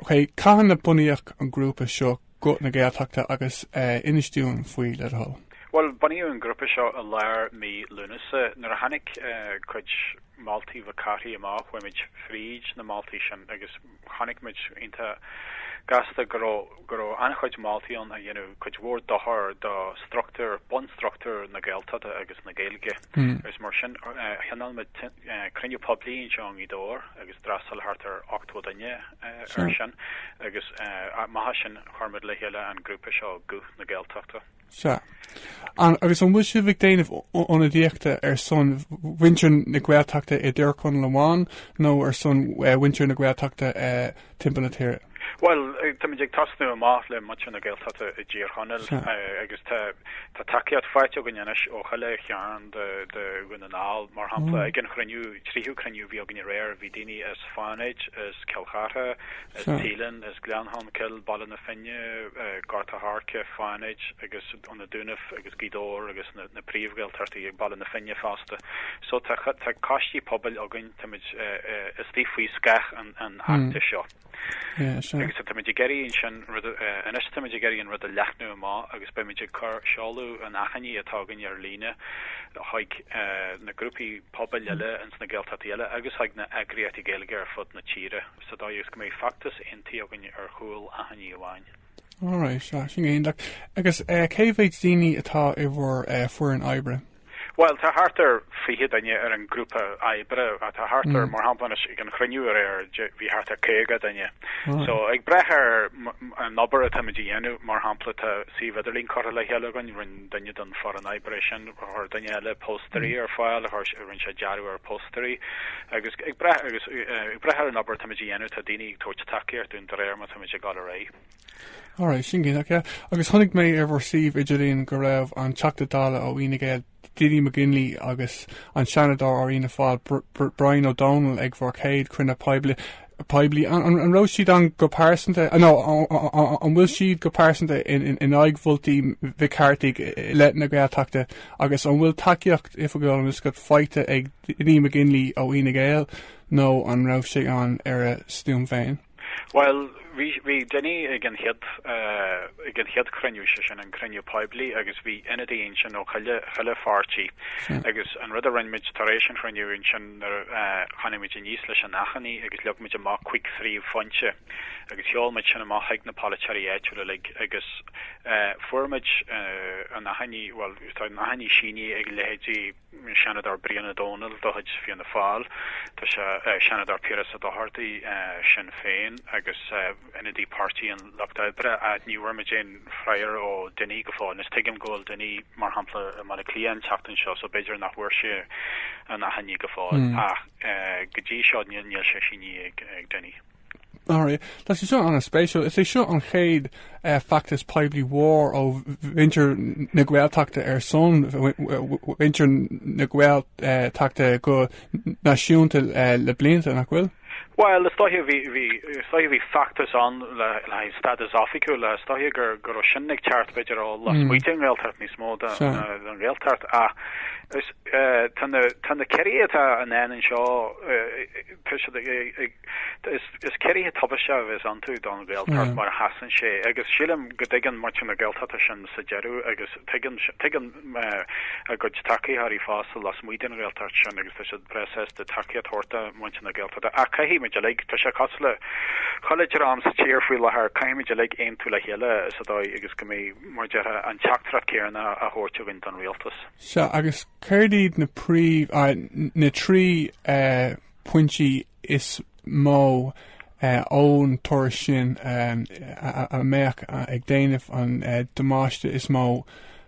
Ok, cathain a bunaíodh an grúpa seo Guth na Gaeltachta agus inis dúinn faoi le do thoil? Bhuel, bunaíodh an grúpa seo i lár mí Lúnasa. Nuair a tháinig cuid moltaí McCarthy amach chuaigh muid fríd na moltaí sin agus chonaic muid iontach gasta go raibh go raibh an-chuid moltaí ann a dhéanadh cuid mhór dochar do struchtúr, bunstruchtúr na Gaeltachta agus na Gaeilge agus mar sin thionóil muid cruinniú poiblí anseo i nGaoth Dobhair agus d'fhreastail thart ar 80 duine. air sin agus amach as sin chuir muid le chéile an grúpa seo Guth na Gaeltachta. Sea. An agus an bhfuil sibh ag déanamh ionadaíochta ar son mhuintir na Gaeltachta i dTír Chonaill amháin nó ar son mhuintir na Gaeltachta timpeall na tíre? Bhuel, táimid ag tosnú amach le muintir na Gaeltachta i dTír Chonaill agus tá tá tacaíocht faighte againn anois ó chuile chearn de Dhún na nGall. Mar shampla ag an chruinniú, tríú cruinniú a bhí againn aréir, bhí daoine as Fánaid, as Cill Chartha, as Teileann, as Gleann Cholm Cill, Baile na Finne, Gort an Choirce, Fánaid agus ó na Dúnaibh agus Gaoth Dobhair agus na príomh-Ghaeltachtaí ag Baile na Finne fosta. So tá coistí pobail againn, táimid istigh faoi scáth an fheachtais seo. Agus táimid ag iarraidh ansin, anois táimid ag iarraidh an rud a leathnú amach agus beimid ag cur seoladh an achainí atá againn ar líne chuig na grúpaí, pobail eile ins na Gaeltachtaí eile agus chuig na heagraíochtaí Gaeilge ar fud na tíre sa dóigh is go mbeidh feachtas aontaithe againn ar chúl achainí amháin. All right, sin go hiontach. Agus cé mhéid daoine atá i bhur foireann oibre? Bhuel, tá thart ar fiche duine ar an ghrúpa oibre. Tá thart ar, mar shampla anois, ag an chruinniú aréir, bhí thart ar caoga duine. So, ag brath ar an obair atáimid a dhéanamh, mar shampla, tá suíomh idirlín curtha le chéile againn, duine den foireann oibre sin, chuir duine eile póstaeir ar fáil, rinne sé dearadh ar phóstaeir agus ag brath ar an obair táimid a dhéanamh, tá daoine ag tabhairt tacaíocht dúinn de réir mar táimid ag dul ar aghaidh. Alright, sin go hiontach, yeah. Agus chonaic mé ar bhur suíomh idirlín go raibh an Teachta Dála ó Fhine Gael, Dinny McGinley agus an Seanadóir ó Fhianna Fáil, Brian Ó Domhnaill ag bhur gcéad chruinniú poiblí. poiblí, an raibh siad ann go pearsanta, nó an bhfuil siad go pearsanta in aghaidh mholtaí Mhic Cárthaigh i leith na Gaeltachta agus an bhfuil tacaíocht oifigiúil an scoth faighte ag Dinny McGinley ó Fhine Gael nó an raibh sé ann ar a stuaim féin? Bhuel, bhí Dinny ag an chéad, ag an chéad cruinniú, sé sin, an cruinniú poiblí agus bhí ionadaí ansin ó chuile, chuile pháirtí, agus an rud a rinne muid tar éis an chruinniú sin, nuair a tháinig muid aníos leis an achainí agus leag muid amach cúig phríomhphointe agus sheol muid sin amach chuig na polaiteoirí áitiúil uilig agus fuair muid an achainí, bhuel tá an achainí sínithe ag leithéidí Seanadóir Brian Ó Domhnaill de chuid Fianna Fáil, Tá sé Seanadóir Piaras Ó Dochartaigh Sinn Féin agus ionadaí Pháirtí an Lucht Oibre, ach ní bhfuair muid aon fhreagra ó Dinny go fóill. Anois tuigim go bhfuil Dinny, mar shampla, i mBaile Átha Cliath an tseachtain seo, so b'fhéidir nach bhfuair sé an achainí go fóill, ach go dtí seo níl sé sínithe ag Dinny. Alright, tá sé seo an-spéisiúil. Is é seo an chéad feachtas poiblí mhór ó mhuintir na Gaeltachta ar son mhuintir na Gaeltachta go náisiúnta le blianta, nach bhfuil? Bhuel, is dóiche bhí feachtas ann le haghaidh stádas oifigiúil, is dóiche go raibh sin ag teacht b'fhéidir ó lasmuigh den Ghaeltacht níos mó ná don Ghaeltacht ach tá na ciorruithe atá i ndán anseo, is ciorruithe tubaisteacha a bheas iontu don Ghaeltacht mar a sheasann sé agus sílim go dtuigeann muintir na Gaeltachta sin sa deireadh agus tuigeann a gcuid tacaitheoirí fosta lasmuigh den Ghaeltacht sin agus tá siad breá sásta tacaíocht a thabhairt do mhuintir na Gaeltachta. Ach caithfimid uilig, tá sé cosúil le chuile dream sa tír faoi láthair, caithfimid uilig aontú le chéile sa dóigh agus go mbeidh mar a déarfá an teachtaireacht céanna a thabhairt againn don rialtas. Seo agus céird iad na príomh na trí eh, pointí is mó ón tuairisc sin a mbeadh ag déanamh an damáiste is mó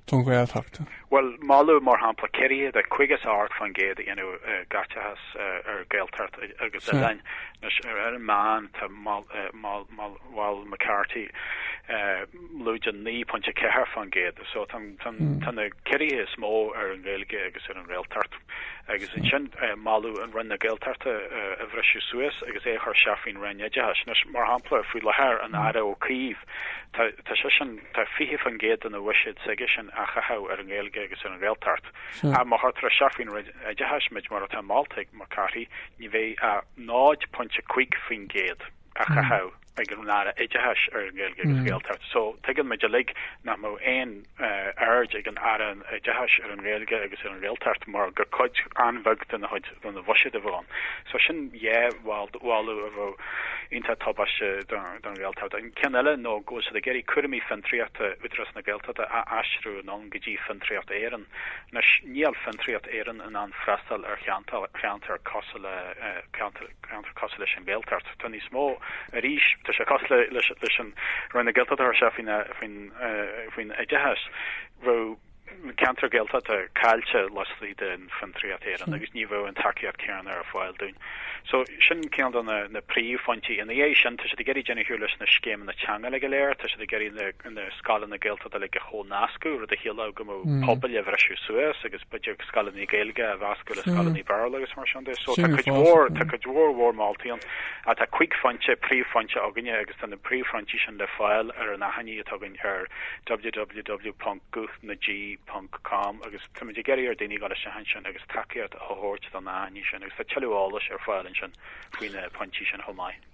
don Ghaeltacht. Bhuel, moladh, mar shampla, ciorrú de 58% a dhéanamh i gcaiteachas ar Ghaeltacht agus oileáin, anois ar an meán, tá moladh, Mhol McCarthy lúide 9.4%. So tá na ciorruithe is mó ar an nGaeilge agus ar an nGaeltacht. Agus ansin moladh an Roinn na Gaeltachta a bhriseadh suas agus é a chur isteach faoin Roinn Oideachais. Anois, mar shampla, faoi láthair an Aire Ó Cuív, tá tá seisean, tá 20% dena bhuiséad s'aigesean á chaitheamh ar an nGaeilge agus ar an Ghaeltacht. Ach má chuirtear isteach faoin Roinn Oideachais muid mar atá molta ag McCarthy, ní bheidh ach 0.5%. á chaitheamh ag an Aire Oideachais ar an nGaeilge agus Gaeltacht. So, tuigeann muid uilig nach mbeadh aon aird ag an Aire Oideachais ar an nGaeilge agus ar an Ghaeltacht mar gur cuid an-bheag dena chuid dena bhuiséad a bheadh ann. So, sin dhá mholadh a bheadh iontach tubaisteach don Ghaeltacht. An ceann eile ná go bhfuil siad ag iarraidh cúraimí fiontraíochta Údarás na Gaeltachta a aistriú anonn go dtí Fiontraíocht Éireann. Anois, níl Fiontraíocht Éireann in ann freastal ar cheantair cosúil le ceantar cosúil leis an Ghaeltacht. Tá níos mó arís, tá sé cosúil leis an Roinn na Gaeltachta a chur isteach faoin oideachas. Bheadh na ceantair Ghaeltachta caillte laistigh de Fiontraíocht Éireann agus ní bheadh an tacaíocht céanna ar fáil dúinn. So, sin ceann de na príomhphointí. Ina dhiaidh sin, tá siad ag iarraidh deireadh a chur leis na scéimeanna teanga uilig go léir, tá siad ag iarraidh na. na scoileanna Gaeltachta uilig a chomhnascadh, rud a chiallódh go mbeadh pobail a bhriseadh suas agus b'fhéidir scoileanna Gaeilge a mheascadh le scoileanna Béarla agus mar sin de. So, tá cuid mhór, tá cuid mhór, mhór moltaí ann. Ach tá cúig phointe, príomhphointe againne agus tá na príomhphointí sin le fáil ar an achainí atá againn ar www.guthnaG.com agus táimid ag iarraidh ar daoine dul isteach ansin agus tacaíocht a thabhairt don achainí sin agus tá tuilleadh eolais ar fáil ansin faoi na pointí sin chomh maith.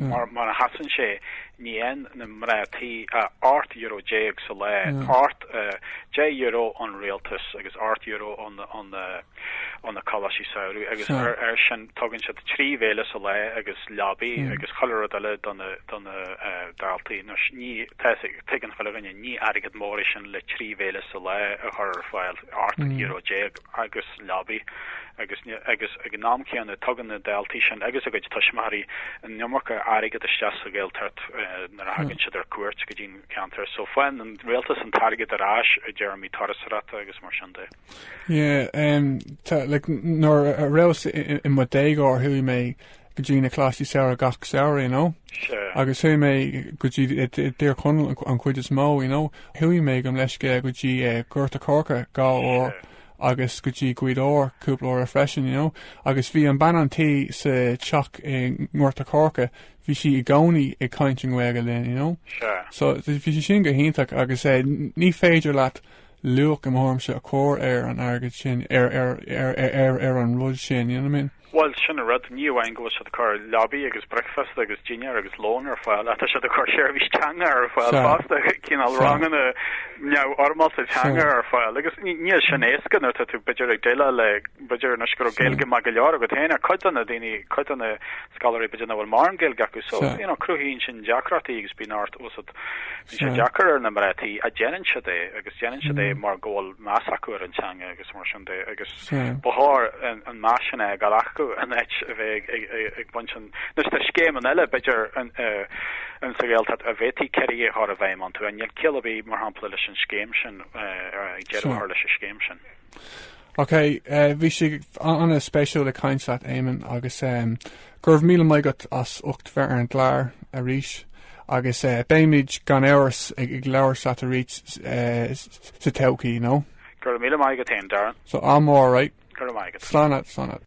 Mar a sheasann sé, ní fhaigheann na mná tí ach ocht euro déag sa lá, ocht, deich euro ón rialtas agus ocht euro ó na coláistí samhraidh, agus air sin tugann siad trí bhéile sa lá agus leabaidh agus chuile rud eile do na daltaí. Tuigeann chuile dhuine, ní airgead mór é sin le trí bhéile sa lá a chur ar fáil, ocht euro déag, agus Leabaidh, agus ag an am céanna tugann na daltaí sin agus a gcuid tuismitheoirí an iomarca airgid isteach sa Ghaeltacht nuair a thagann siad ar cuairt go dtí na ceantair. So faigheann an Rialtas an t-airgead ar ais i dtéarmaí turasóireachta agus mar sin de. Yeah, like nuair a raibheas i mo déagóir chuaigh mé go dtí na coláistí samhraidh gach samhradh, you know? Sure. Agus chuaigh mé go dtí Tír Chonaill an chuid is mó, you know? Chuaigh mé go Mleisce go dtí Gort a' Choirce dhá uair. agus go dtí Gaoth Dobhair cúpla uaire freisin, you know. Agus bhí an bean an tí sa teach i nGort a' Choirce, bhí sí i gcónaí ag caint i nGaeilge linn, you know. Sure. So bhí sé sin go hiontach agus eh ní féidir leat luach, i mo thuairimse, a chur ar an airgead sin, ar, ar, ar, ar, ar, ar an rud sin, you know what I mean? Bhuel, sin an rud, ní amháin go bhfuil siad ag cur leabaidh agus bricfeasta agus dinnéar agus lón ar fáil, ach tá siad ag cur seirbhís teanga ar fáil fosta, cineál ranganna neamhfhoirmeálta teanga ar fáil, agus níl sin éasca nuair atá tú b'fhéidir ag déileáil le, b'fhéidir, anois go raibh Gaeilge maith go leor agat féin, ach cuid de na daoine, cuid de na scoláirí b'fhéidir nach bhfuil mórán Gaeilge acu, so, you know, cruthaíonn sin deacrachtaí agus bíonn ort tá a fhios agat, bíonn sé deacair ar na mná tí ach déanann siad é, agus déanann siad é mar go bhfuil meas acu ar an teanga agus mar sin de, agus. Ba chóir an meas sin a fhágáil acu in áit a bheith ag baint an. Anois tá scéimeanna eile, b'fhéidir, in sa Ghaeltacht a bhféadfaí ciorruithe a chur i bhfeidhm iontu. Ach níl ciall ar bith, mar shampla, leis an scéim sin, deireadh a chur leis an scéim sin? Ok, bhí sé ana spéisiúil ag caint leat Éamonn agus go raibh míle maith agat as ucht bheith ar an gclár arís agus beimid gan amhras ag labhairt leat arís sa todhchaí, you know. Go raibh míle maith agat féin, Darren. So I'm alright. Go raibh maith agat. Slán agat, slán agat.